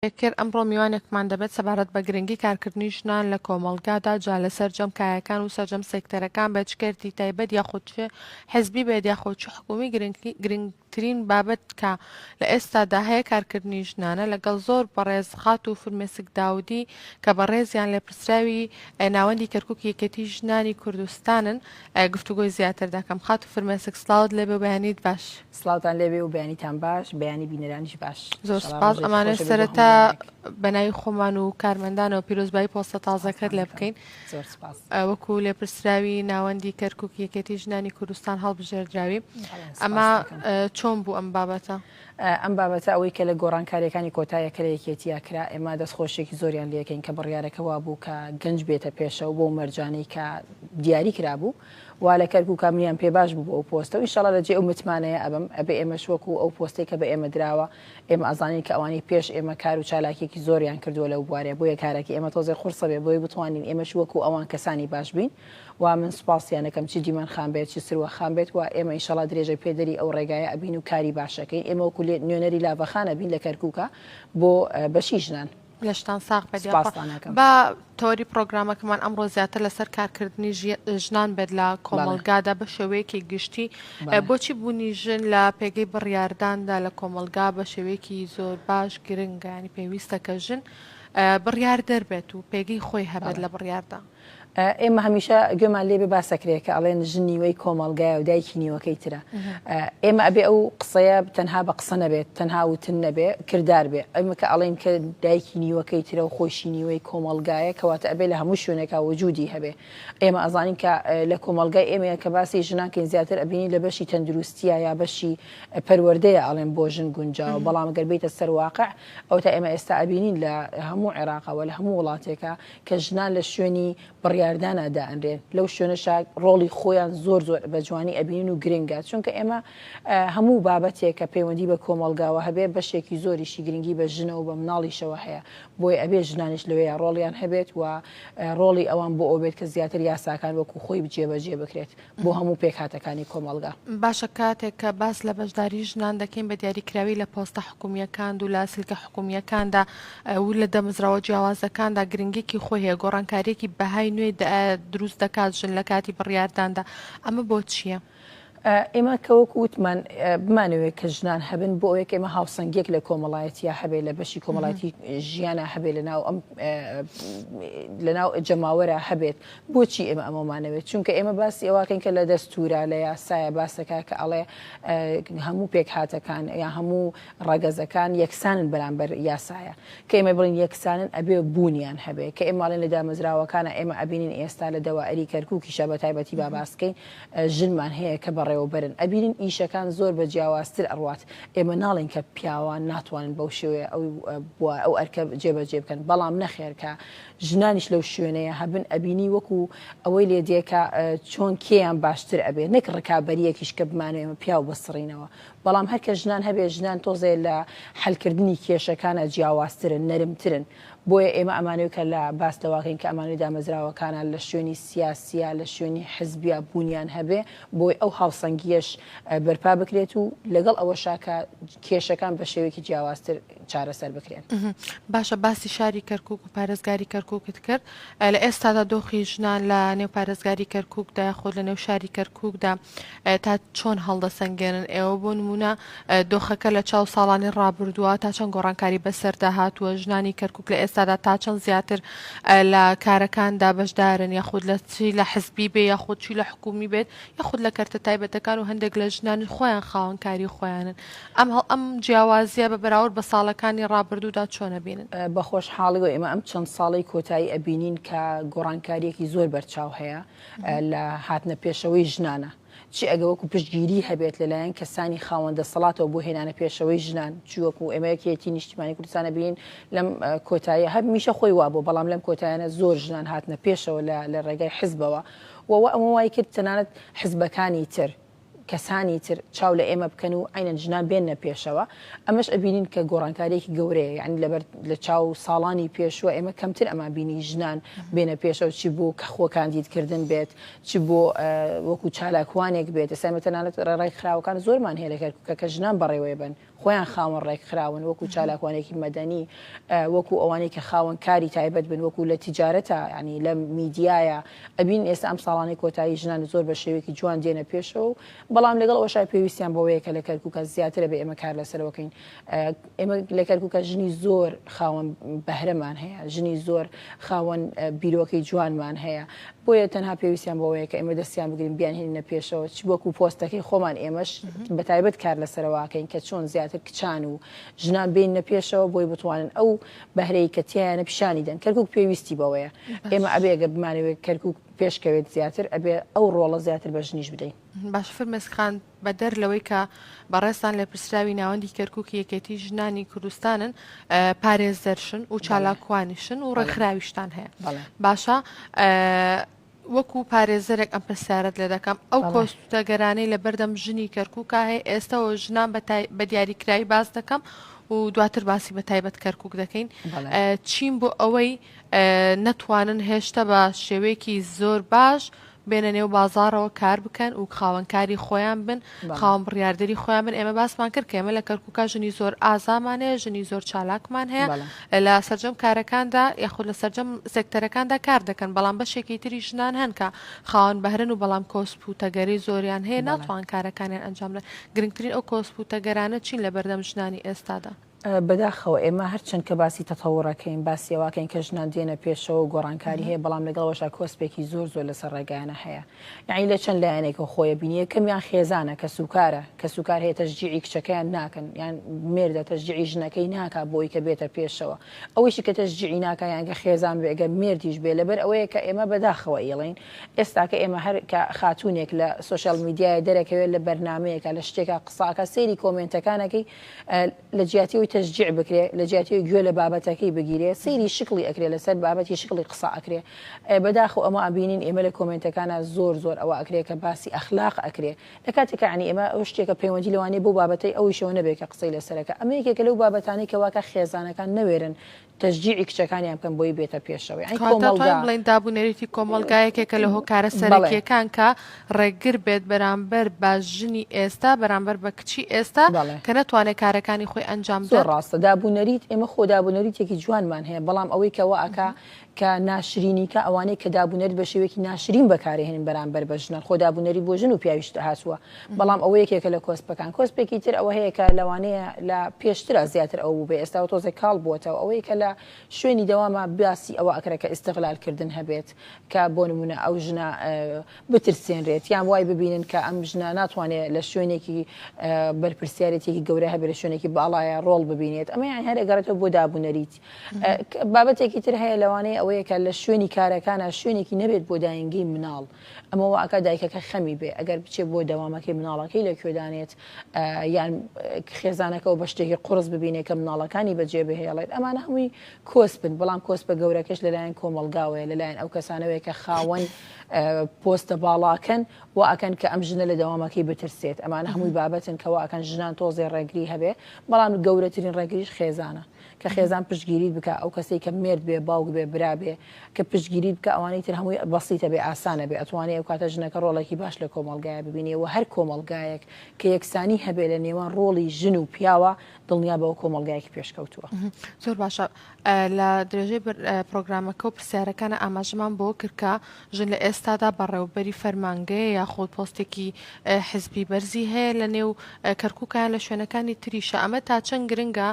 کرد، ئەمڕۆ میوانێکمان دەبێت سەبارەت بە گرنگی کارکردنی ژنان لە کۆمەڵگادا، جا لە سەرجەم کایەکان و سەرجەم سێکتەرەکان بێت، چ کەرتی تایبەت یاخود چ حزبی بێت یاخود چ حکومی، گرنگترین بابەت کە لە ئێستادا هەیە کارکردنی ژنانە، لەگەڵ زۆر بەڕێز خاتوو فرمێسک داودی کە بە ڕێزیان لێپرسراوی ناوەندی کەرکوک یەکێتی ژنانی کوردستانن گفتوگۆی زیاتر دەکەم، خاتوو فرمێسک سڵاوت لێبێ و بەیانیت باش. سڵاوتان لێبێ و بەیانیتان باش بەیانی بینەرانیش باش زۆر انشاءاللە سپاس ڕۆژێکی ئەمانە خۆش بێت بۆ سەرەتا هەمووانێک. بەناوی خۆمان و کارمەندانەوە پیرۆزبایی پۆستە تازەکەت لێ بکەین زۆر سپاس ئە، وەکو لێپرسراوی ناوەندی کەرکوک یەکێتی ژنانی کوردستان هەڵبژێردراوی سپاست ئەمە دەکەم. ئە، چۆن بوو ئەم بابەتە؟ ئەم بابەتە ئەوەی کە لە گۆڕانکارییەکانی کۆتایە کە لە یەکێتییا کرا ئێمە دەستخۆشییەکی زۆریان لێ ئەکەین کە بڕیارەکە وا بوو کە گەنج بێتە پێشەوە بەو مەرجانەی کە دیاری کرابوو وا لە کەرکوک کاملیان پێ باش بوو بۆ ئەو پۆستە و ئینشاڵا لە جێ ئەو متمانەیە ئەبم ئەبێ ئێمەش وەکو ئەو پۆستەی کە بە ئێمە دراوە ئێمە ئەزانین کە ئەوانەی پێش ئێمە کار و چالاکیەکی زۆریان کردووە لەو بوارە بۆیە کارەکەی ئێمە تۆزێ قورسە بێ بۆی بتوانین ئێمەش وەکو ئەوان کەسانی باش بین و من سوپاسیان ئەکەم چ دیمەن خان بێت چ سروە خان بێت و ئێمە ئینشاڵا درێژەی پێدەری ئەو ڕێگایە ئەبین و کاری باش ئەکەین ئێمە وەکو نوێنەری لاڤەخان ئەبین لە کەرکوکا بۆ بەشی ژنان. لەشتان ساغ بێت یاخوا. سوپاستان ئەکەم. با تەوەری پڕۆگرامەکەمان ئەمڕۆ زیاتر لەسەر کارکردنی ژی ژنان بێت لە بەڵێ. کۆمەڵگادا بە شێوەیەکی گشتی بەڵێ. بۆچی بوونی ژن لە پێگەی بڕیارداندا لە کۆمەڵگا بە شێوەیەکی زۆر باش گرنگە یانی پێویستە کە ژن بڕیاردەر بێت و پێگەی خۆی هەبێت بەڵێ. لە بڕیاردا. ئێمە هەمیشە گوێمان لێبێ باسەکرێ کە ئەڵێن ژن نیوەی کۆمەلگایە و دایکی نیوەکەی ترە ئێمە ئەبێ ئەو قسەیە تەنها بە قسە نەبێت تەنها وتن نەبێ کردار بێ ئەمە کە ئەڵێن کە دایکی نیوەکەی ترە و خۆشی نیوەی کۆمەلگایە کەواتە ئەبێ لە هەموو شوێنێکا وجودی هەبێ ئێمە ئەزانین کە لە کۆمەلگای ئێمە کە باسی ژنانکەین زیاتر ئەبینی لە بەشی تەندروستیە یا بەشی پەروەردەیە ئەڵێن بۆ ژن گونجاوە بەڵام گەربیتە سەرواقع ئەو تا ئێمە ئێستا ئەبینین لە هەموو عێراقەوە لە هەموو وڵاتێکە کە ژنان لە شوێنی بڕیاردانا دائەنرێن لەو شوێنەشا ڕۆڵی خۆیان زۆر زۆر بە جوانی ئەبینن و گرنگە چونکە ئێمە هەموو بابەتێک کە پەیوەندی بە کۆمەڵگاوە هەبێ بەشێکی زۆریشی گرنگی بە ژنە و بە مناڵیشەوە هەیە بۆی ئەبێ ژنانش لەوەیە ڕۆڵیان هەبێت و ڕۆڵی ئەوان بۆ ئەوبێت کە زیاتر یاساکان وەکو خۆی جێبەجێ بکرێت. بۆ هەموو پێکهاتەکانی کۆمەڵگا. باشە کاتێک کە باس لە بەشداری ژنان دەکەین بە دیاریکراوی لە پۆستە حکومییەکاند و لاسلکە حکومییەکاندا و لە دەمزراوە جیاوازەکاندا گرنگیەکی خۆی هەیە گۆڕانکاریەکی بەهای نوێ دروست دەکات ژن لە کاتی بڕیارداندا ئەمە بۆچییە؟ ئێمە کە وەکو وتمان بمانەوێت کە ژنان هەبن بۆ ئەوەیەک ئێمە هاوسەنگیەک لە کۆمەڵایەتیا هەبێت لە بەشی کۆمەڵایەتی ژیانە هەبێت لە ناو ئەم لە ناو جەماوەرە هەبێت بۆچی ئێمە ئەمەمانەوێت چونکە ئێمە باسی ئەوواکەین کە لە دەستورە لە یاسایە باسەکە کە ئەڵێ هەموو پێکهاتەکان یا هەموو ڕەگەزەکان یەکسانن بەرامبەر یاسایە کە ئێمە بڵین یەکسانن ئەبێ بوونیان هەبێ کە ئێماڵێن لە دامەزراوەکانە ئێمە ئەبینین ئێستا لە دەوائری کەرکووکیشە بە تایبەتی با باسکەین ژنمان هەیە کە بەڕێوەبەرن ئەبینین ئیشەکان زۆر بە جیاوازتر ئەڕوات ئێمە ناڵێن کە پیاوان ناتوانن بەو شێوەیە ئەو بووە ئەو ئەرکە جێبەجێ بکەن بەڵام نەخێرکە ژنانیش لەو شوێنەیە هەبن ئەبینی وەکو ئەوەی لێ دێ کە چۆن کێیان باشتر ئەبێ نەک ڕکابەریەکیش کە بمانەوێ ئێمە پیاو بسڕینەوە بەڵام هەر کە ژنان هەبێ ژنان تۆزێ لە حەل کردنی کێشەکانا جیاوازترن نەرمترن بۆیە ئێمە ئەمانەوێ کە لە باس لەوە کەین کە ئەمانەوێ دامەزراوەکانا لە شوێنی سیاسیا لە شوێنی حزبیا بوونیان هەبێ بۆی ئەو هاوسەنگیەش بەرپا بکرێت و لەگەڵ ئەوەشا کە کێشەکان بە شێوەیەکی جیاوازتر چارەسەر بکرێن. باشە باسی شاری کەرکوک و پارێزگاری کەرکوکت کرد لە ئێستادا دۆخی ژنان لە نێو پارێزگاری کەرکوکدا خۆ لە نێو شاری کەرکوکدا تا چۆن هەڵدەسەنگێنن ئێوە بۆ نمونە دۆخەکە لە چاو ساڵانی ڕابردووە تا چەند گۆڕانکاری بەسەردا هاتووە ژنانی کەرکک لە ئێستادا تا چەند زیاتر لە کارەکاندا بەشدارن یاخود لە چی لە حزبی بێ یاخود چی لە حکومی بێت یاخود لە کەرتە تایبەتەکان و هەندێک لە ژنانی خۆیان خاوەنکاری خۆیانن ئەمهەڵ ئەم جیاوازیە بە بەراورد بە ساڵەکانی ڕابردوودا چۆن ئەبینن؟ بەخۆشحاڵیەوە ئێمە ئەم چەند ساڵەی کۆتایی ئەبینین کە گۆڕانکاریەکی زۆر بەرچاو هەیە لە هاتنە پێشەوەی ژنانە چی ئەگە وەکو پشتگیری هەبێت لەلایەن کەسانی خاوەن دەسەڵاتەوە بۆ هێنانە پێشەوەی ژنان چی وەکو ئێمە یەکێتی نیشتیمانی کوردستانە بین لەم کۆتایی هەر میشە خۆی وابوو بەڵام لەم کۆتایانە زۆر ژنان هاتنە پێشەوە لە لە ڕێگای حزبەوە وەوە ئەمە وای کرد تەنانەت حزبەکانی تر کەسانی تر چاو لە ئێمە بکەن و عەینەن ژنان بێننە پێشەوە، ئەمەش ئەبینین کە گۆڕانکاریەکی گەورەیە، یانی لەبەر لە چاو ساڵانی پێشووە ئێمە کەمتر ئەمان بینی ژنان بێنە پێشەوە چی بۆ کە خۆ کاندید کردن بێت چ بۆ وەکو چالاکوانێک بێت، ئێستا ئێمە تەنانەت ڕێڕای کراوەکان زۆرمان هەیە لە کەرکوکە کە ژنان بەڕێوەی ئەبەن، خۆیان خاوەن ڕێکخراون وەکو چالاکوانێکی مەدەنی وەکو ئەوانەی کە خاوەن کاری تایبەت بن وەکو لە تیجارەتە ینی لە میدیایە ئەبین ئێستا ئەم ساڵانەی کۆتایی ژنان زۆر بە شێوەیەکی جوان دێنە پێشەوە و بەڵام لەگەڵ ئەوەشای پێویستیان بەوەیە کە لە کەرکووکە زیاترە بێ ئێمە کار لەسەرەوەکەین ئێمە لە کەرکووکە ژنی زۆر خاوەن بەهرەمان هەیە ژنی زۆر خاوەن بیرۆکەی جوانمان هەیە بۆیە تەنها پێویستیان بەوەیە کە ئێمە دەستیان بگرین بیانهێنینە پێشەوە چ وەکو پۆستەکەی خۆمان ئێمەش بە تایبەت کار لەسەرواکەین کە چۆن زیاتر کچان و ژنان بینە پێشەوە بۆی بتوانن ئەو بەهرەی کە تیانە پیشانی دەن کەرکک پێویستی بەوەیە ئێمە ئەبێگە بمانەوێت کەرکک پێشکەوێت زیاتر ئەبێ ئەو ڕۆڵە زیاتر بە ژنیش بدەین باش فرمێسکخان بەدەر لەوەی کە بەڕێزتان لێپرسراوی ناوەندی کەرکوکی یەکێتی ژنانی کوردستانن پارێزەرشن و چالاکوانیشن و ڕێکخراویشتان هەیە باشە وەکو پارێزەرێک ئەم پرسیارت لێ دەکەم ئەو کۆستەگەرانەی لە بەردەم ژنی کەرکووکە هەیە ئێستەوە ژنان بە دیاریکراوی باس دەکەم و دواتر باسی بە تایبەت کەرکک دەکەین چین بۆ ئەوەی نەتوانن هێشتا بە شێوەیەکی زۆر باش بێنە نێو بازاڕەوە کار بکەن و خاوەن کاری خۆیان بن خاوەن بڕیاردەری خۆیان بن ئێمە باسمان کرد کە ئێمە لە کەرکوکە ژنی زۆر ئازامان هەیە ژنی زۆر چالاکمان هەیە لە سەرجەم کارەکاندا یاخود لە سەرجەم سێکتەرەکاندا کار دەکەن بەڵام بەشێکی تری ژنان هەنکە خاوەن بەهرن و بەڵام کۆسپ و تەگەری زۆریان هەیە ناتوان کارەکانیان ئەنجام لە گرنگترین ئەو کۆسپ و تەگەرانە چین لە بەردەم ژنانی ئێستادا بەداخەوە ئێمە هەرچەند کە باسی تەتەوڕ ئەکەین، باسی ئەوە ئەکەین کە ژنان دێنە پێشەوە و گۆڕانکاری هەیە، بەڵام لەگەڵ ئەوەشا کۆسپێکی زۆر زۆر لەسەر ڕێگایانە هەیە. یەعنی لە چەند لایەنێکەوە خۆی ئەبینی، یەکەمیان خێزانە، کەسوکارە، کەسوکار هەیە تەشجیعی کچەکەیان ناکەن، یان مێردە تەشجیعی ژنەکەی ناکا بۆ ئەوی کە بێتە پێشەوە. ئەوەیشی کە تەشجیعی ناکا یان گەر خێزان بێ گەر مێردیش بێ لەبەر ئەوەیە کە ئێمە بەداخەوە ئیڵێین ئێستاکە ئێمە هەر کە خاتوونێک لە سۆشیال میدیایە دەرەکەوێ لە بەرنامەیەکا لە شتێکا قسە ئەکا سەیری کۆمێنتەکان ئەکەی لە جیاتی ئەوی تەشجیع بکرێ لە جیاتی ئەوی گوێ لە بابەتەکەی بگیرێ سەیری شکڵی ئەکرێ لەسەر بابەتی شکڵی قسە ئەکرێ بەداخەوە ئەمە ئەبینین ئێمە لە کۆمێنتەکانا زۆر زۆر ئەوە ئەکرێ کە باسی ئەخلاق ئەکرێ لە کاتێکا یانی ئێمە ئەو شتێکە پەیوەندی لەوانەیە بۆ بابەتەی ئەویشەوە نەبێ کە قسەی لەسەرەکە ئەمە یەکێکە لەو بابەتانەی کە واکە خێزانەکان نەوێرن تەشجیعی کچەکانیان بکەن بۆی بێتە پێشەوە یعنی کەواتە کۆمەڵگا توانین بڵێین دابونەریتی کۆمەڵگا یەکێکە لە هۆکارە بەڵێ سەرەکییەکان کە ڕێگر بێت بەرامبەر بە ژنی ئێستا بەرامبەر بە کچی ئێستا بەڵێ کە نەتوانێت کارەکانی خۆی ئەنجام زۆر بدات. ڕاستە دابونەریت ئێمە خۆ دابونەریتێکی جوانمان هەیە بەڵام ئەوەی کە وا ئەکا کە ناشرینی کە ئەوانەی کە دابونەریت بە شێوەیەکی ناشرین بەکارەهێنن بەرامبەر بە ژنان خۆ دابونەریت بۆ ژن و پیاویش هاتووە بەڵام ئەوە یەکێکە لە کۆسپەکان کۆسپێکی تر ئەوە هەیە کە لەوانەیە لە پێشترا زیاتر ئەو بوو بە ئێستا و تۆزێک کاڵ بووەتەوە ئەوەی کە لە شوێنی دەوامە باسی ئەوە ئەکرێت کە ئیستغلالکردن هەبێت کە بۆ نمونە ئەو ژنە بترسێنرێت یان وای ببینن کە ئەم ژنە ناتوانێت لە شوێنێکی بەرپرسیارێتێکی گەورە هەبێت لە شوێنێکی باڵایە ڕۆڵ ببینێت ئەمە یان هەرێگەڕێتەوە بۆ دابوونەریت بابەتێکی تر هەیە لەوانەیە ئەوەیە کە لە شوێنی کارەکانە شوێنێکی نەبێت بۆ داینگەی مناڵ ئەمە وا ئەکا دایکەکە خەمی بێ ئەگەر بچێ بۆ دەوامەکەی مناڵەکەی لە کوێ دانێت یان خێزانەکە و بە شتێکی قوڕس ببینێ کە مناڵەکانی بە جێ بهێڵێت ئەمانە هەمووی کۆسپن بەڵام کۆسپە گەورەکەش لە لایەن کۆمەڵگاوەیە لە لایەن ئەو کەسانەوەیە کە خاوەن پۆستە باڵاکەن وا ئەکەن کە ئەم ژنە لە دەوامەکەی بترسێت ئەمانە هەمووی بابەتن کە وا ئەکەن ژنان تۆزێ ڕێگری هەبێ بەڵام گەورەترین ڕێگریش خێزانە کە خێزان پشتگیریت بکا ئەو کەسەی کە مێرد بێ باوک بێ برا بێ کە پشتگیریت بکا ئەوانەی تر هەمووی بەسیتە بێ ئاسانە بێ ئەتوانێ ئەوکاتە ژنەکە ڕۆڵێکی باش لە کۆمەڵگایە ببینێ وە هەر کۆمەڵگایەک کە یەکسانی هەبێ لە نێوان ڕۆڵی ژن و پیاوە دڵنیا بەوە کۆمەڵگایەکی پێشکەوتووە. زۆر باشە لە درێژەی پرۆگرامەکە و پرسیارەکانە ئاماژەمان بۆ کرد کە ژن لە ئێستادا بەڕێوەبەری فەرمانگەیە یاخود پۆستێکی حزبی بەرزی هەیە لە نێو کەرکوکە لە شوێنەکانی تریشە ئەمە تا چەند گرنگە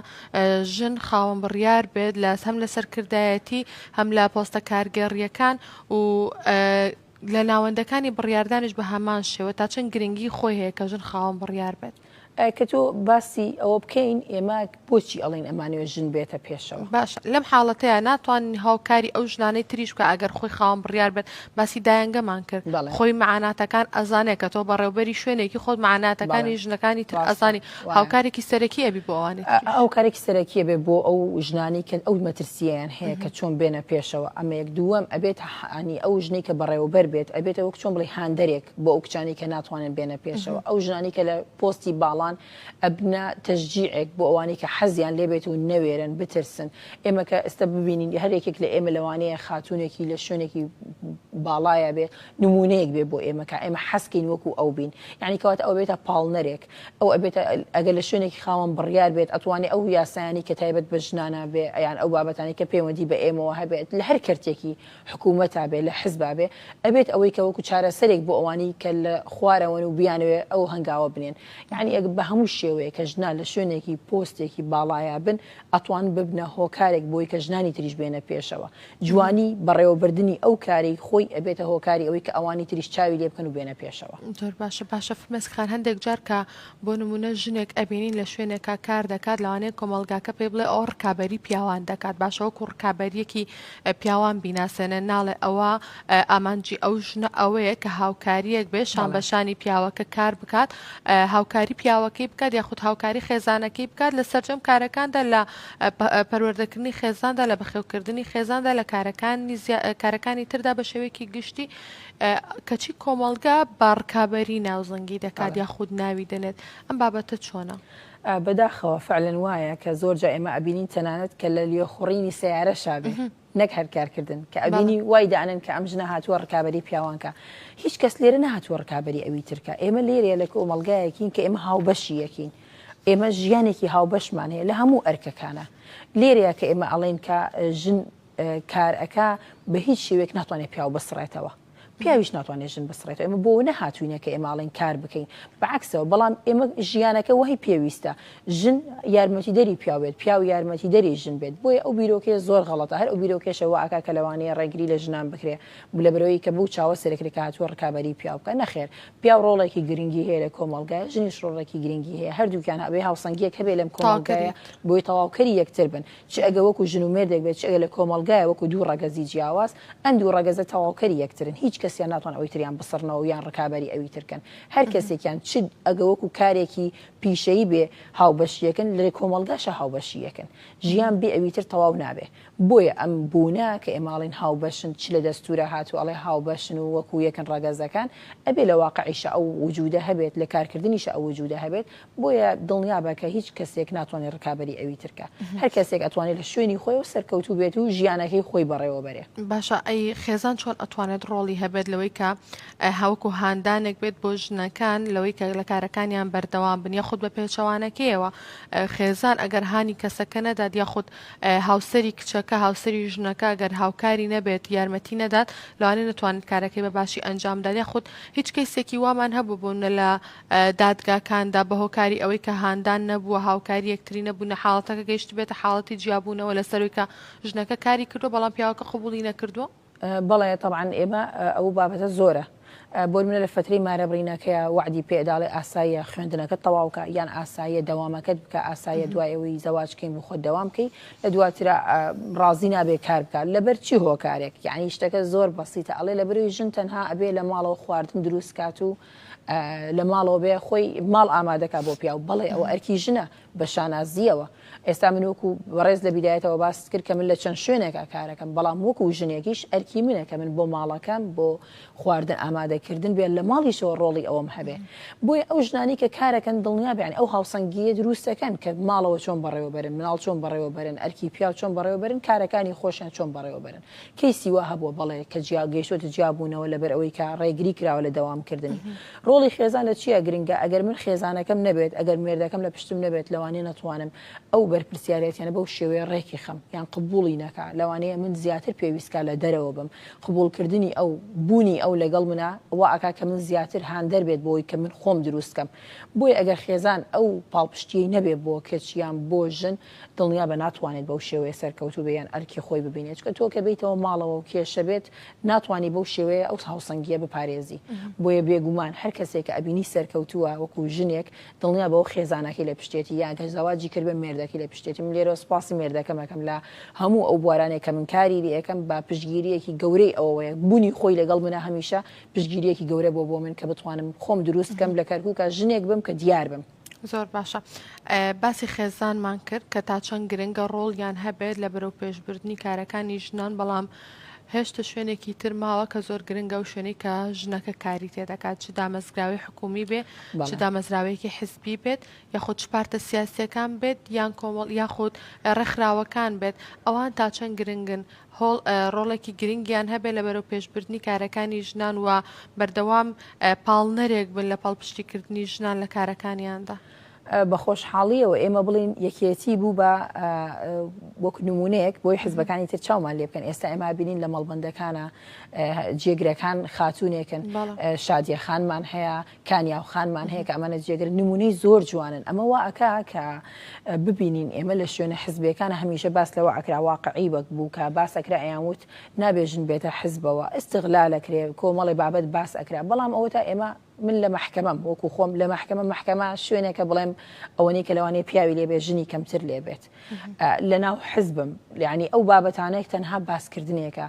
ژن خاوەن بڕیار بێت لە هەم لە سەرکردایەتی هەم لە پۆستە کارگێڕیەکان و لە ناوەندەکانی بڕاردانش بە هەمان شێوە تا چەند گرنگی خۆی هەیە کە ژن خاوەن بڕیار بێت ئەی کە تۆ باسی ئەوە بکەین ئێمە بۆچی ئەڵێن ئەمانەوێ ژن بێتە پێشەوە؟ باشە لەم حاڵەتەیا ناتوانین هاوکاری ئەو ژنانەی تریش بکە ئەگەر خۆی خاوەن بڕیار بێت باسی دایەنگەمان کرد بەڵێ. خۆی مەعاناتەکان ئەزانێ کە تۆ بەڕێوبەری شوێنێکی خۆت مەعاناتەکانی بەڵێ. ژنەکانی تر ڕاستە. ئەزانی وایە. هاوکارێکی سەرەکی ئەبی بۆ ئەوانی ئا- تریش. ئەو کارێکی سەرەکیە بێ بۆ ئەو ژنانەی کە ئەو مەترسیەیان هەیە کە چۆن بێنە پێشەوە ئەمەیەک دووەم ئەبێت هه انی ئەو ژنەی کە بەڕێوەبەر بێت ئەبێتە وەک چۆن بڵێی هاندەرێک بۆ ئەو کچانی کە ناتوانن بێنە پێشەوە ئەو ژنانی کە لە پۆستی باڵان ئەبنە تەژجیعێک بۆ ئەوانی کە حەزیان لێبێت و نەوێرن بترسن ئێمە کە ئێستا ببینین هەرێکێک لە ئێمە لەوانەیە خاتونێکی لە شوێنێکی باڵایە بێ نمونەیەک بێ بۆ ئێمە کە ئێمە حەسکین وەکو ئەو بین یعنی کەوات ئەو بێتە پاڵنەرێک ئەو ئەبێت ئەگەر لە شوێنێکی خاوەن بڕیار بێت ئەتوانێت ئەو یاسایانی کە تایبەت بە ژنانە بێ یان ئەو بابەتانی کە پەیوەندی بە ئێمەوە هەبێت لە هەر کەرتێکی حکومەتا بێ لە حزبا بێ ئەبێت ئەوەی کە وەکو چارەسەرێک بۆ ئەوانەی کە لە خوارەوەن و بیانەوێ ئەو هەنگاوە بنێن یانی ئەگە بە هەموو شێوەیە کە ژنان لە شوێنێکی پۆستێکی باڵایا بن ئەتوان ببنە هۆکارێک بۆی کە ژنانی تریش بێنە پێشەوە جوانی بەڕێوەبردنی ئەو کارەی خۆی ئەبێتە هۆکاری ئەوەی کە ئەوانی تریش چاوی لێ بکەن و بێنە پێشەوە. زۆر باشە باشە فرمێسک خان هەندێک جار کە بۆ نموونە ژنێک ئەبینین لە شوێنێکا کار دەکات لەوانەیە کۆمەڵگاکە پێی بڵێ ئەوە ڕکابەری پیاوان دەکات باشە وەکو ڕکابەریەکی پیاوان بیناسێنێ ناڵێ ئەوە ئامانجی ئەو ژنە ئەوەیە کە هاوکاریەک بێ شان بە شانی پیاوەکە کار بکات هاوکاری پیاوەکەی بکات یاخود هاوکاری خێزانەکەی بکات لە سەررجەم کارەکاندا لە پەروەردەکردنی خێزاندا لە بەخێوکردنی خێزاندا لە کارەکانی کارەکانی تردا بە شێوەیەکی گشتی کەچی کۆمەڵگا بە ڕکابەری ناو زەنگی دەکات یا خود ناوی دەنێت ئەم بابەتە چۆنە؟ بەداخەوە فەعلەن وایە کە زۆر جا ئێمە ئەبینین تەنانەت کە لە لوێ خوڕینی سەیارە شابێ نەک هەر کارکردن کە ئەبینی وای دانن کە ئەم ژنە هاتووە ڕکابەری پیاوانکە هیچ کەس لێرە نهاتووە ڕکابەری ئەوی ترکە ئێمە لێرەیە لە کۆمەلگایەکین کە ئێمە هاوبەشی یەکین ئێمە ژیانێکی هاوبەشمان هەیە لە هەموو ئەرکەکانە لێرەیە کە ئێمە ئەڵێن کە ژن کار ئەکا بە هیچ شێوەیەک ناتوانێت پیاو بسڕێتەوە پیاویش ناتوانێت ژن بسڕێتەوە ئێمە بۆ نەهاتوینە کە ئێماڵین کار بکەین بەعکسەوە بەڵام ئێمە ژیانەکە وهی پێویستە ژن یارمەتی دەری پیاوێت پیاو یارمەتی دەری ژن بێت بۆیە ئەو بیرۆکەیە زۆر غەڵەتە هەر ئەو بیرۆکێشە واکا کە لەوانەیە ڕێگری لە ژنان بکرێ بلە برەوەی کە بەو چاوە سەرکرێکە هاتووە ڕکابەری پیاو بکە نەخێر پیاو ڕۆڵێکی گرنگی هەیە لە کۆمەڵگای ژنیش ڕۆڵێکی گرنگی هەیە هەردووکیان هەبێ هاوسەنگیەک هەبێ لەم کۆمەڵگایە بۆی تەواوکەری یەکتر بن چ ئەگە وەکو ژن و مێردێک بێت، چ ئەگە لە کۆمەڵگایە وەکو دوو ڕەگەزی جیاواز، ئەم دوو ڕەگەزە تەواوکەری یەکترن، هیچ کەسیان ناتوان ئەوی تریان بسڕنەوە و یان ڕکابەری ئەوی تر کەن، هەر کەسێکیان چ ئەگە وەکو کارێکی پیشەیی بێ هاوبەشی یەکن، لە کۆمەڵگاشا هاوبەشی یەکن. ژیان بێ ئەوی تر تەواو نابێ. بۆیە ئەم بوونە کە ئێمە ئەڵێین هاوبەشن، چ لە دەستوورا هاتووە ئەڵێ هاوبەشن و وەکو یەکن ڕەگەزەکان، ئەبێ لە واقعیشا ئەو وجوودە هەبێت، لە کارکردنیشا ئەو وجوودە هەبێت، بۆیە دڵنیابە کە هیچ کەسێک ناتوانێت ڕکابەری ئەوی ترکە هەر کەسێک ئەتوانێت لە شوێنی خۆی و سەرکەوتوو بێت و ژیانەکەی خۆی بەڕێوە بەرێ باشە ئەی خێزان چۆن ئەتوانێت ڕۆڵی هەبێت لەوەی کە هاوکو هاندانێک بێت بۆ ژنەکان لەوەی کە لە کارەکانیان بەردەوام بن یاخود بە پێچەوانەکەیەوە خێزان ئەگەر هانی کەسەکە نەدات یاخود هاوسری کچەکە هاوسری ژنەکە گەر هاوکاری نەبێت یارمەتی نەدات لەوانێ نتوانێت کارەکەی بە باشی ئەنجامدارە خود هیچ کەیسێکی وامان هەبوو بوون لە دادگاکاندا، بە هۆکاری ئەوەی کە هاندان نەبووە، هاوکاری یەکتری نەبوونە، حاڵەتەکە گەیشتبێتە حاڵەتی جیابوونەوە لە سەرووی کە ژنەکە کاری کردووە بەڵام پیاوەکە قبووڵی نەکردووە؟ بەڵێ تەبعەن ئێمە ئەوو بابەتە زۆرە بۆنمونە لە فەترەی مارە برینەکەیە وەعدی پێ ئەدا ئەڵێ ئاساییە خوێندنەکەت تەواو کە یان ئاساییە دەوامەکەت بکە ئاساییە دوای ئەوەی زەواج کەین بۆ خۆت دەوام کەی لە دواترا ڕازی نابێ کار بکە لەبەر چی هۆکارێک یعنی شتەکە زۆر بەسیتە ئەڵێ لەبەروی ژن تەنها ئەبێ لە ماڵەوە خواردن دروست کات و لە ماڵەوە بێ خۆی ماڵ ئامادەکە بۆ پیاو بەڵێ ئەوە ئەرکی ژنە بە شانازیەوە ئێستا من وەکو بەڕێز لە بیدایەتەوە باست کرد کە من لە چەند شوێنێکا کارەکەم بەڵام وەکو ژنێکیش ئەرکی منە کە من بۆ ماڵەکەم بۆ خواردن ئامادەکردن بێت لە ماڵیشەوە ڕۆڵی ئەوم هەبێ بۆیە ئەو ژنانی کە کارەکەن دڵنیابیان ئەو هاوسەنگیە دروستەکەن کە ماڵەوە چۆن بەڕێوەبەرن مناڵ چۆن بەڕێوەبەرن ئەرکی پیاو چۆن بەڕێوەبەرن کارەکانی خۆشیان چۆن بەڕێوەبەرن کەیسی وا هەبووە بەڵێ کە جیا گەیشتۆتە جیابوونەوە لەبەر ئەوەی کە ڕێگری کراوە لە دەوامکردنی. ڕۆڵی خێزان لە چیا گرنگە؟ ئەگەر من خێزانەکەم نەبێت، ئەگەر مێردەکەم لە پشتم نەبێت لەوانەیە نەتوانم ئەو بەرپرسیارێتیانە بەو شێوەیە ڕێکی خەم یان قبوڵی نەکا لەوانەیە من زیاتر پێویستکا لە دەرەوە بم قبوڵکردنی ئەو بوونی ئەو لەگەڵ منا وا ئەکا کە من زیاتر هاندەر بێت بۆی کە من خۆم دروست کەم بۆیە ئەگەر خێزان ئەو پاڵپشتیەی نەبێ بۆ کچ یان بۆ ژن دڵنیابە ناتوانێت بەو شێوەیە سەرکەوتوو بێ یان ئەرکی خۆی ببینێت چونکە تۆ کە بێیتەوە ماڵەوە و کێشە بێت ناتوانی بەو شێوەیە ئەو هاوسەنگیە بپارێزی بۆیە بێگومان هەر کەسێک کە ئەبینی سەرکەوتووە وەکو ژنێک دڵنیابە ئەو خێزانەکەی لە پشتێتی یان گەر زەواجی کردبێ مێردەکەی لە پشتێتی من لێرەوە سوپاسی مێردەکەم ئەکەم لە هەموو ئەو بوارانەی کە من کاری لێ ئەکەم بە پشتگیریەکی گەورەی ئەوەوەیە بوونی خۆی لەگەڵ منە هەمیشە پشتگیریەکی گەورە بۆ بۆ من کە بتوانم خۆم دروست کەم لە کەرکوکا ژنێک بم کە دیار بم. زۆر باشە باسی خێزانمان کرد کە تا چەند گرنگە ڕۆڵیان هەبێت لە بەرەو پێشبردنی کارەکانی ژنان بەڵام هێشتە شوێنێکی تر ماوە کە زۆر گرنگە و شوێنی کە ژنەکە کاری تێ دەکات چ دامەزراوی حکومی بێ چ دامەزراوەیەکی حزبی بێت یاخود پارتە سیاسەکان بێت یان کۆمەڵ یاخود ڕێکخراوەکان بێت ئەوان تا چەند گرنگن هۆڵ ڕۆڵێکی گرنگیان هەبێت لە بەرەوپێشبردنی کارەکانی ژنان و بەردەوام پاڵنەرێک بن لە پاڵپشتیکردنی ژنان لە کارەکانیاندا. بە خۆشحاڵییەوە ئێمە بڵێین یەکێتی بوو بە وەک نموونەیەک بۆی حزبەکانی تر چاومان لێ بکەن ئێستا ئێمە بینین لە مەڵبندەکانە جێگرەکان خاتونێکن شادیە خانمان هەیە کانیا و خانمان هەیە کە ئەمانە جێگر نمونەی زۆر جوانن ئەمە وا ئەکا کە ببینین ئێمە لە شوێنە حزبەکان هەمیشە باس لەوە ئەکرا واقعی وەک بوو کە باس ئەکرا ئەیان وت نابێ ژن بێتە حزبەوە ئستغلا لەکرێ کۆمەڵی بابەت باس ئەکرا بەڵام ئەوە تا ئێمە من لە مححکەمەم وەکو خۆم لە مححکەمە مححکەمە شوێنێکە بڵێم ئەوەنەی کە لەوانەیە پیاوی لێبێ ژنی کەمتر لێبێت لە ناو حزبم لەعنی ئەو بابەتانێک تەنها باسکردنێکە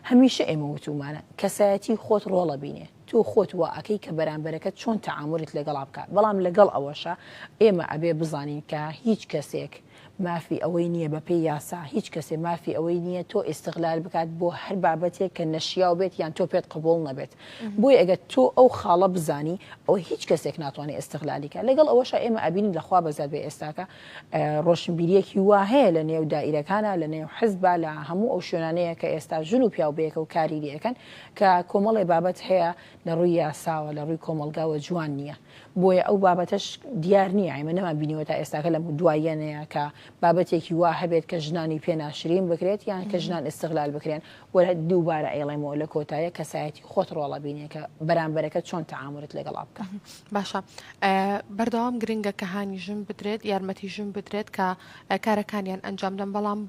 هەمیشە ئێمە وتومانە کەسایەتی خۆت ڕۆڵە بینێ تۆ خۆت وا ئەکەی کە بەرامبەرەکەت چۆن تەعامولیت لەگەڵا بکات، بەڵام لەگەڵ ئەوەشا ئێمە ئەبێ بزانین کە هیچ کەسێک مافی ئەوەی نییە بە پێی یاسا هیچ کەسێ مافی ئەوەی نییە تۆ ئیستغلال بکات بۆ هەر بابەتێک کە نەشیاو بێت یان تۆ پێت قبوڵ نەبێت بۆیە ئەگەر تۆ ئەو خاڵە بزانی ئەوە هیچ کەسێک ناتوانێ ئیستغلالی کات لەگەڵ ئەوەشا ئێمە ئەبینین لە خوا بەزیاد بێ ئێستاکە ڕۆشنبیریەکی وا هەیە لە نێو دائیرەکانا لە نێو حزبا لە هەموو ئەو شوێنانەیە کە ئێستا ژن و پیاو بەیەکەوە کاری لێ ئەکەن کە کۆمەڵێ بابەت هەیە لە ڕووی یاساوە لە ڕووی کۆمەڵگاوە جوان نییە بۆیە ئەو بابەتەش دیار نییە ئێمە نەمان بینیوە تا ئێستاکە لەم دواییەنەیە کە بابەتێکی وا هەبێت کە ژنانی پێ ناشرین بکرێت یان کە ژنان ئیستغلال بکرێن و دووبارە ئەیڵێمەوە لە کۆتایە کەسایەتی خۆت ڕۆڵە بینێ کە بەرامبەرەکە چۆن تەعامولت لەگەڵا بکە باشە بەردەوام گرنگە کە هانی ژن بدرێت یارمەتی ژن بدرێت کە کارەکانیان ئەنجام دەم بەڵام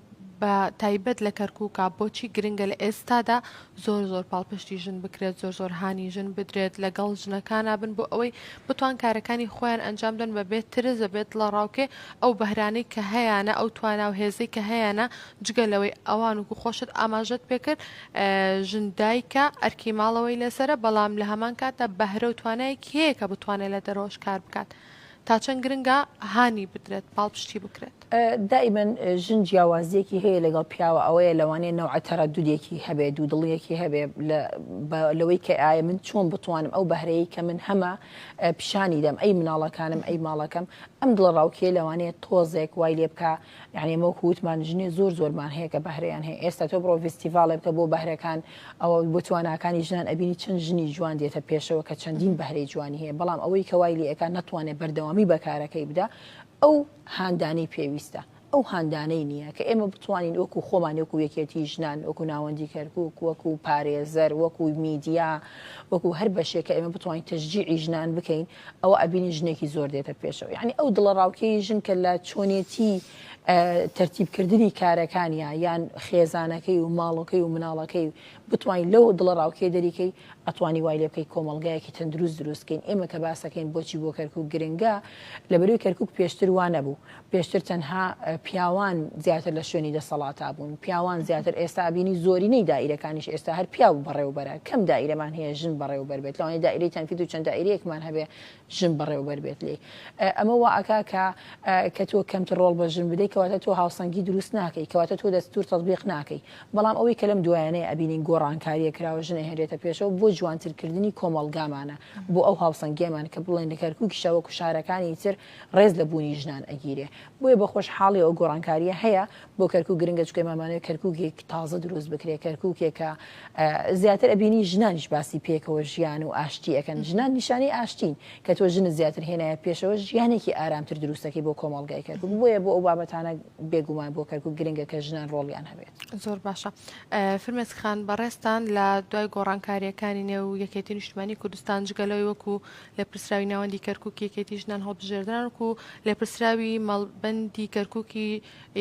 بە تایبەت لە کەرکوکا بۆچی گرنگە لە ئێستادا زۆر زۆر پاڵپشتی ژن بکرێت زۆر زۆر هانی ژن بدرێت لەگەڵ ژنەکانا بن بۆ ئەوەی بتوان کارەکانی خۆیان ئەنجام دەن بە بێت ترس بە بێت لە ڕاوکێ ئەو بەهرانەی کە هەیەە ئەو تواناو هێزەی کە هەیەە جگە لەوەی ئەوان وکو خۆشت ئاماژەت پێکرد ژن دایکە ئەرکی ماڵەوەی لەسرە بەڵام لە هەمان کاتە بەهرە و توانایەکی هەیە کە بتوانێت لە دەرەوەش کار بکات. تا چەند گرنگە هانی بدرێت پاڵپشتی بکرێت؟ دائیمەن ژن جیاوازیەکی هەیە لەگەڵ پیاوە ئەوەیە لەوانەیە نەوعە تەرەدودێکی هەبێ دوو دڵیەکی هەبێ لەوەی کە ئایا من چۆن بتوانم ئەو بەهرەیە کە من هەمە پیشانی دەم ئەی مناڵەکانم ئەی ماڵەکەم ئەم دڵە ڕاوکێ لەوانەیە تۆزێک وای لێ بکە یانی ئەمە وەکو وتمان ژنێ زۆر زۆرمان هەیە کە بەهرەیان هەیە ئێستا تۆ بڕۆ ڤستیڤاڵێ بکە بۆ بەهرەکان ئەوە بۆ تواناکانی ژنان ئەبینی چەند ژنی جوان دێتە پێشەوە کە چەندین بەهرەی جوانی هەیە بەڵام ئەوەی کەوای لە ئەکان نەتوانێت بەردەوامی بەکارەکەی بدا ئەو هاندانی پێویستە ئەو هاندانەی نییە کە ئێمە بتوانین وەکو خۆمان وەکو یەکێتی ژنان وەکو ناوەندی کەرکک وەکو پارێزەر وەکو میدیا وەکو هەر بەشێکە ئێمە بتوانین تەژجیعی ژنان بکەین ئەوە ئەبینی ژنێکی زۆر دێتە پێشەوە یعنی ئەو دڵە ڕاوکێی ژن کە لە چۆنێتی تەرتیبکردنی کارەکانیا یان خێزانەکەی و ماڵەکەی و مناڵەکەی و بتوانین لەو دڵە ڕاوکێ دەریکەی ئەتوانی وای لێ بکەی کۆمەلگایەکی تەندروست دروستکەین ئێمە کە باسەکەین بۆچی بۆ کەرکک گرنگە لە بەروی کەرکک پێشتر وانە بوو پێشتر تەنها پیاوان زیاتر لە شوێنی دەسەڵاتا بوون، پیاوان زیاتر ئێستا ئەبینی زۆرینەی دائیرەکانیش ئێستا هەر پیاو بەڕێوبەرە، کەم دائیرەمان هەیە ژن بەڕێوبەر بێت، لەوانەیە دائیرەی تەنفیز و چەند دائیرەیەکمان هەبێ ژن بەڕێوبەر بێت لێی. ئەمە وا ئەکا کە کە تۆ کەمتر ڕۆڵ بە ژن بدەی کەواتە تۆ هاوسەنگی دروست ناکەی، کەواتە تۆ دەستوور تەتبیق ناکەی. بەڵام ئەوەی کە لەم دوایانەیە ئەبینین گۆڕانکارییە کراوە ژن ئەهێنرێتە پێشەوە بۆ جوانترکردنی کۆمەڵگامانە، بۆ ئەو هاوسەنگییەمان کە بڵێن لە کەرکووکیشا وەکو شارەکانی تر ڕێز لە بوونی ژنان ئەگیرێ بۆیە بە خۆش حاڵی ئەو گۆڕانکاریە هەیە بۆ کەرکوک گرنگە چکە مامانەوەی کەرکوکێک تازە دروست بکرێ کەرکوکێکە زیاتر ئەبینی ژنانیش باسی پێکەوە ژیان و ئاشتی ئەەکەن ژنان نیشانی ئاشتین کە تۆ ژن زیاتر هێنایە پێشەوە ژیانێکی ئارامتر دروستەکەی بۆ کۆمەڵگای کەرکوک بۆیە بۆ ئەو بابەتانە بێگومان بۆ کەرکوک گرنگە کە ژنان ڕۆڵیان هەبێت زۆر باشە فرمێز خان بەڕێستان لە دوای گۆڕانکاریەکانی نێو یەکێتی نیشتمانی کوردستان جگەلەوەی وەکو لێپرسراوی ناوەندی کەرکوکی یەکێتی ژنان هەڵبژێردران وکو لێپرسراوی مەڵبەندی کەرکوکی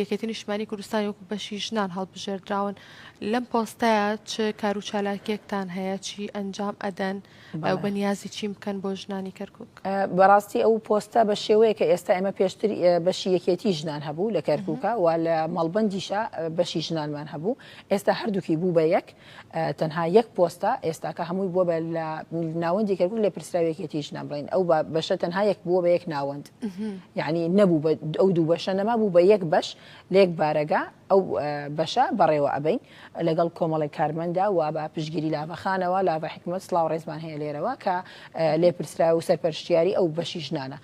یەکێتی نیشتمانی کوردستانی وەکو بەشی ژنان هەڵبژێردراون لەم پۆستەیە چ کارو چالاکیەکتان هەیە چی ئەنجام ئەدەن ئەو بەنیازی چیم بکەن بۆ ژنانی کەرکک بەڕاستی ئەو پۆستە بە شێوەیە کە ئێستا ئێمە پێشتر بەشی یەکێتی ژنان هەبوو لە کەرکوکە و لە مەڵبندیشە بەشی ژنانمان هەبوو ئێستا هەردووکی بوو بە یەک تەنها یەک پۆستە ئێستاکە هەمووی بووە بە لە ناوەندی کەرکوک لە پرسراوی یەکێتی ژنان بڵین ئەو بەشە تەنها یەک بووە بە یەک ناوەند یعنی نەبوو بە ئەو دوو بەشە نەما بوو بە یەک بەش لێک بارەگا ئەو بەشە بەڕێوە ئەبین لەگەڵ کۆمەڵی کارمەندا و بە پشگیری لاڤەخانەوە لاڤە حکومت سلااو ڕێزمان هەیە لێرەوە کە لێ پرسرا و سەرپەرشتیاری ئەو بەشی ژنانە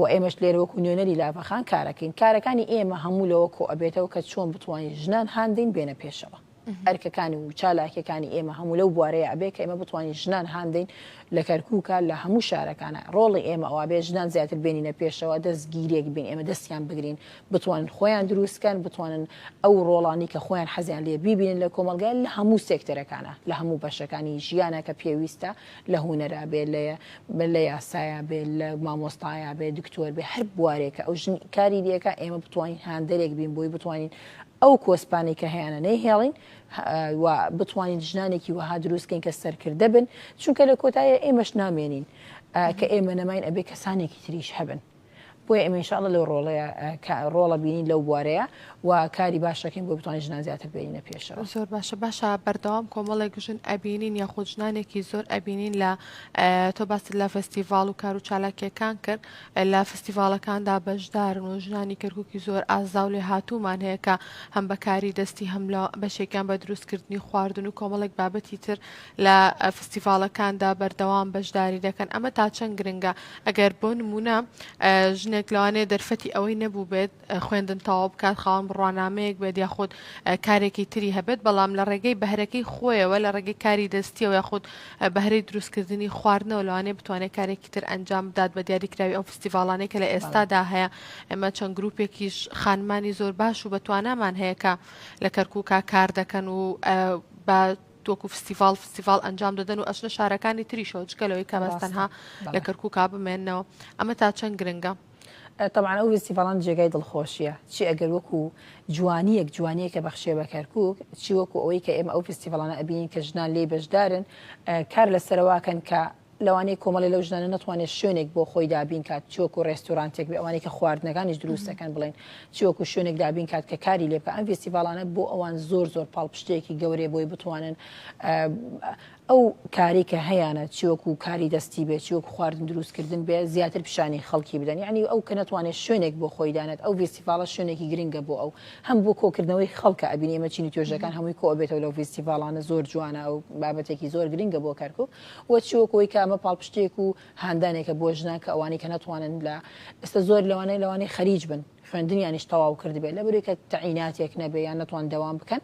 و ئێمەش لێرەوەکو نوێنەری لاڤەخان کارەکەین کارەکانی ئێمە هەموو لەوە کۆ ئەبێتەوە کە چۆن بتوانین ژنان هاندین بێنە پێشەوە ئەرکەکانی و چالاکیەکانی ئێمە هەموو لەو بوارەیە ئەبێ کە ئێمە بتوانین ژنان هاندەین لە کەرکووکە لە هەموو شارەکانە ڕۆڵی ئێمە ئەوابێ ژنان زیاتر بێنینە پێشەوە دەست گیرێک بین ئێمە دەستیان بگرین بتوانن خۆیان دروستکەن بتوانن ئەو ڕۆڵانی کە خۆیان حەزیان لێ بیبینن لە کۆمەلگای لە هەموو سێکتەرەکانە لە هەموو بەشەکانی ژیانە کە پێویستە لە هوەرا بێ لە لە یاسایە بێ لە مامۆستایا بێ دکتۆر بێ هەر بوارێکە ئەو ژن کاری لەکە ئێمە بتوانین هاندەرێک بین بۆی بتوانین ئەو کۆسپانەی کە هەیانە نەیهێڵین و بتوانین ژنانێکی وەها دروستکەین کە سەرکردە بن چونکە لە کۆتایە ئێمەش نامێنین کە ئێمە نەماین ئەبێ کەسانێکی تریش هەبن. بۆیە ئێمە انشاءاللە لەو ڕۆڵەیە کە ڕۆڵە بینین لەو بوارەیە و کاری باش دەکەین بۆ بتوانین ژنان زیاتر بێنینە پێشەوە زۆر باشە باشە بەردەوام کۆمەڵێک ژن ئەبینین یاخود ژنانێکی زۆر ئەبینین لە تۆ باست لە فستیڤاڵ و کار و چالاکیەکان کرد لە فستیڤاڵەکاندا بەشدارن و ژنانی کەرکوکی زۆر ئازاو لێهاتوومان هەیە کە هەم بە کاری دەستی هەم لە بەشێکیان بە دروست کردنی خواردن و کۆمەڵێک بابەتی تر لە فستیڤاڵەکاندا بەردەوام بەشداری دەکەن ئەمە تا چەند گرنگە ئەگەر بۆ نموونە ژنێک لەوانەیە دەرفەتی ئەوەی نەبووبێت خوێندن تەواو بکات، خاوەن بڕوانامەیەک بێت یاخود کارێکی تری هەبێت، بەڵام لە ڕێگەی بەهرەکەی خۆیەوە، لە ڕێگەی کاری دەستییەوە یاخود بەهرەی دروستکردنی خواردنەوە لەوانەیە بتوانێت کارێکی تر ئەنجام بدات، بە دیاریکراوی ئەو فستیڤاڵانەی کە لە ئێستادا هەیە، ئێمە چەند گروپێکیش خانمانی زۆر باش و بەتوانامان هەیە کە لە کەرکوکا کار دەکەن و بە وەکو فستیڤاڵ فستیڤاڵ ئەنجام دەدەن و ئەچنە شارەکانی تریشەوە جگە لەوەی کە بەس تەنها لە کەرکوکا بمێنەوە ئەمە تا چەند گرنگە. تەبعەن ئەو ڤیستیڤاڵان جێگای دڵخۆشیە چی ئەگەر وەکو جوانیەک جوانیەکە بەخشێ بە کەرکوک چی وەکو ئەوەی کە ئێمە ئەو ڤیستیڤاڵانە ئەبینین کە ژنان لێی بەشدارن کار لەسەرەواکەن کە لەوانەیە کۆمەڵێ لەو ژنانە نەتوانێت شوێنێک بۆ خۆی دابین کات چۆک و ڕێستورانتێک بێ ئەوانەی کە خواردنەکانیش دروستەکەن بڵێن چۆک و شوێنێک دابین کات کە کاری لێ بکە ئەم فستیڤالانە بۆ ئەوان زۆر زۆر پاڵپشتێکی گەورەیە بۆی بتوانن ئەو کاری کە هەیانە چی وەکو کاری دەستی بێ چی وەکو خواردن دروست کردن بێ زیاتر پیشانی خەڵکی بدەن یانی ئەو کە نەتوانێ شوێنێک بۆ خۆی دانێت ئەو ڤیستیڤاڵە شوێنێکی گرنگە بۆ ئەو هەم بۆ کۆکردنەوەی خەڵکە ئەبینی ئێمە چین و توێژەکان هەمووی کۆ ئەبێتەوە لەو ڤیستیڤاڵانە زۆر جوانە ئەو بابەتێکی زۆر گرنگە بۆ کەرکوک و چی وەکو ئەوی کە ئەمە پاڵپشتێک و هاندانێکە بۆ ژنان کە ئەوانی کە نەتوانن لە ئێستا زۆر لەوانەیە لەوانەیە خەریج بن خوێندنیانیش تەواو کردبێت لەبری کە تەعیناتێک نەبێ یان نەتوان دەوام بکەن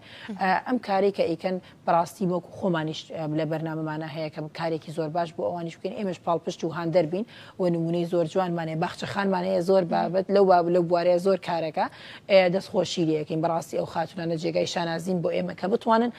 ئەم کاری کە ئیکەن بەڕاستی بۆک خۆمانیش لە بەرنامەمانە هەیە کە کارێکی زۆر باش بۆ ئەوانیش بکەین ئێمەش پاڵپشت و هاان دەربین و نمونەی زۆر جوانمانەیە باخچەخانمانەیە زۆر بابەت لەو باب لەو بوارەیە زۆر کارەکە دەستخۆشی لەکەین بەڕاستی ئەو خاتونانە جێگای شانازین بۆ ئێمە کە بتوانن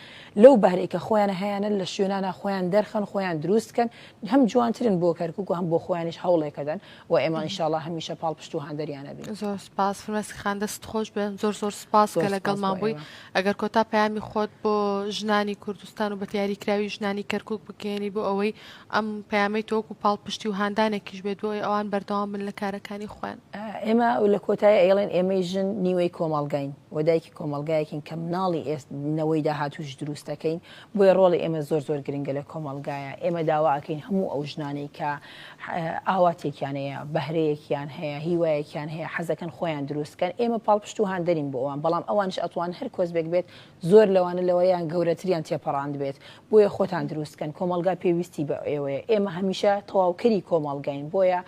لەو بارێکە خۆیان هەیەە لە شوێنانە خۆیان دەرخەن خۆیان دروستکەن هەم جوانترن بۆ کەرکک و هەم بۆ خۆیانش هەوڵێکەدەن و ئێمە ان شاء اللە هەمیشە پاڵپشت و هاندەریان ئەبین. زۆر سوپاس فرمێسک خان دەستت خۆش بێت زۆر زۆر سوپاس کە لەگەڵمان بووی ئەگەر کۆتا پەیامی خۆت بۆ ژنانی کوردستان و بە دیاریکراوی ژنانی کەرکک بگەێنی بۆ ئەوەی ئەم پەیامی تۆک و پاڵپشتی و هاندانێکیش بێت بۆی ئەوان بەردەوام من لە کارەکانی خۆیان ئێمە لە کۆتای ئەیڵێن ئێمەی ژن نیوەی کۆمەڵگاین و دایکی کۆمەلگایەکین کە مناڵی ئێست نەوەی داهاتوش دروستەکەین بۆیە ڕۆڵی ئێمە زۆر زۆر گرنگە لە کۆمەلگایە ئێمە داواکەین هەموو ئەو ژنانەی کە ئاواتێکیان هەیە، بەهرەیەکیان هەیە، هیوایەکیان هەیە، حەزەکەن خۆیان دروست بکەن، ئێمە پاڵپشت و هاندەرین بۆ ئەوان، بەڵام ئەوانیش ئەتوان هەر کۆسبێک بێت زۆر لەوانە لەوەیان گەورەتریان تێپەڕاندبێت، بۆیە خۆتان دروست بکەن، کۆمەڵگا پێویستی بە ئێوەیە، ئێمە هەمیشە تەواوکەری کۆمەڵگاین، بۆیە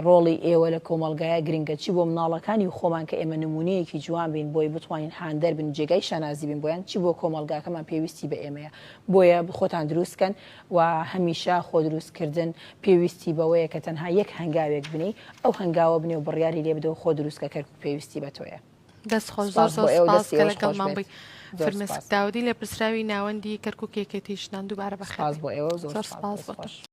ڕۆڵی ئێوە لە کۆمەڵگایا گرنگە، چی بۆ مناڵەکانی و خۆمان کە ئێمە نمونەیەکی جوان بین بۆی بتوانین هاندەر بن و جێگای شانازی بین بۆیان، چی بۆ کۆمەڵگاکەمان پێویستی بە ئێمەیە، بۆیە خۆتان دروست بکەن. و هەمیشە خۆدروستکردن پێویستی بەوەیە کە تەنها یەک هەنگاوێک بنێی ئەو هەنگاوە بنێ و بڕیاری لێ بدە و خۆ دروست کە کەرکوک پێویستی بە تۆیە. دەست خۆش زۆر زۆر سوپاس کە لەگەڵمان بووی فرمێسک داودی لێپرسراوی ناوەندی کەرکوک یەکێتی ژنان دووبارە بەخێربێی زۆر سوپاس بۆتۆش.